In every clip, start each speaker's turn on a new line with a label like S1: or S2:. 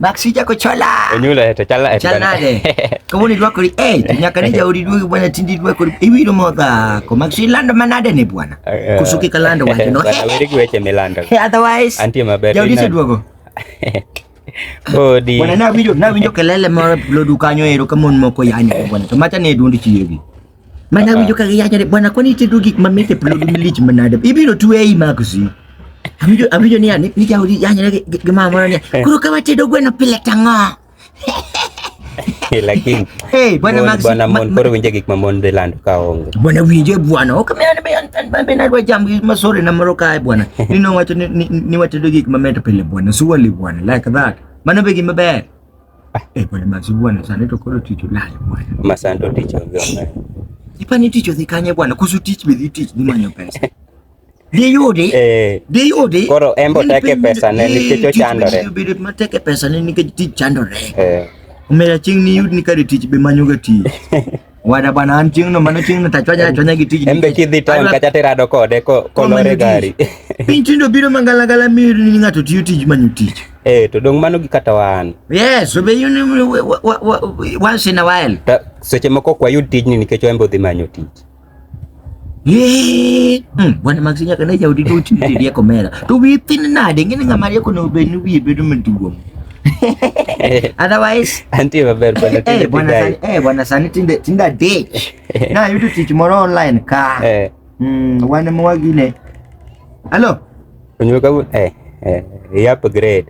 S1: Mak sija ko chola. Enyula eh, to chala eh. Chala
S2: nade.
S1: Komo ni dwako ri eh nyaka ni jauri dwoko bwana tindi dwako ri iwiro modha. Ko mak si lando manade ni bwana. Eh, Kusuki kalando wacho no. Bwana wiri gweche milando.
S2: Otherwise. Antie
S1: maber. Jauri se
S2: dwoko.
S1: Bodi.
S2: Bwana na winjo na winjo
S1: kelele moro lodu kanyo ero kamon moko yanyo bwana. To macha ne duondi chiegi. Manawinjo ka giyacho ni bwana kwani itedo gik mamit e plod milich manade. Ibiro twe ei maksi. Awinjo awinjo ni ani ni jaudi yanyre gi gi mama moro ni. Koro ka watedo gweno pile tang'o.
S2: Lakini Hey, bwana mon- Max. bwana
S1: ma- mon koro winje gik
S2: ma mon dhi lando ka onge. Bwana winjo e bwana.
S1: Ok me an be an- an- an be nadwa jam gi masore na moro kae bwana. Ni nowacho ni ni- ni watedo gik mamit pile bwana. Surely bwana like that. Mano be gima ber. Eh, bwana mazi bwana sana to kolo ticho nayo bwana. Masando ticho
S2: vyona. Ipa ni ticho
S1: zikanye bwana kuzu teach me teach ni manyo pesa. Diyudi. Eh. Diyudi. Koro embo teke
S2: pesa ne nikicho chandore. Diyudi mateke pesa
S1: ne nikech tich chandore. Eh. Omera ching ni yud ni kare tich be manyo ga tich. Wada bwana an chieng' no mano chieng' no tachwanya achwanya gi tijni. Embe kidhi town kacha
S2: terado kode ko kolore gari. Piny tindo biro
S1: mangala gala mi ni ng'ato tiyo tij manyo tich. Eh to dong mano gi
S2: kata wan. Yes, so be you
S1: once in a while. Ta, seche moko kwa
S2: yud tijni nikech wembe odhi manyo tich. Eh,
S1: mm, bwana Maxi nyaka ne jaudi go ti ti rieko mera. To wi thin nade ngene ngama rieko no be ni wi bedo maduong'. Otherwise, anti maber bwana
S2: eh, tinde bwana sani, eh bwana sani tinde
S1: tinde ditch. Na yudo tich moro online ka. Eh. Mm, wane mwagine. Hello. Unyoka
S2: eh eh, eh, ya upgrade.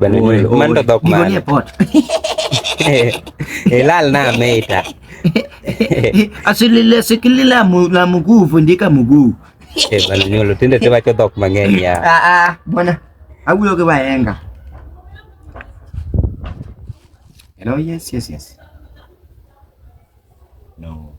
S2: Bana Oy, ni oy. mando dhok Giko mane. nie pot. Ilal na meita. Asilile
S1: sikilila mu, la mguu fundika mguu. Eh, bana nyolo
S2: tinde te wacho dhok mang'eny ya. Ah ah, bwana.
S1: Awuyo ke baenga. Hello, yes, yes, yes. No.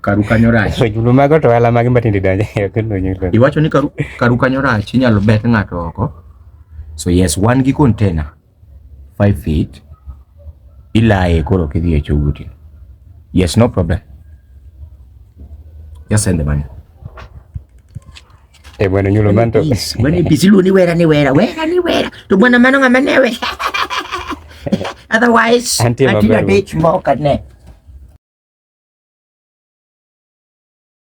S1: karu kanyo rach julu mago to wala
S2: magi matindi donje kendo nyulo iwacho ni karu karu
S1: kanyo rach inyalo bet ng'ato oko so yes wan gi container 5 feet ilaye koro kidhi e choguti yes no problem just send the money
S2: Eh bwana nyulo manto. Bwana busy lu ni
S1: wera ni wera. Wera ni wera. Tu bwana mano ngama newe. Otherwise, until the day tomorrow,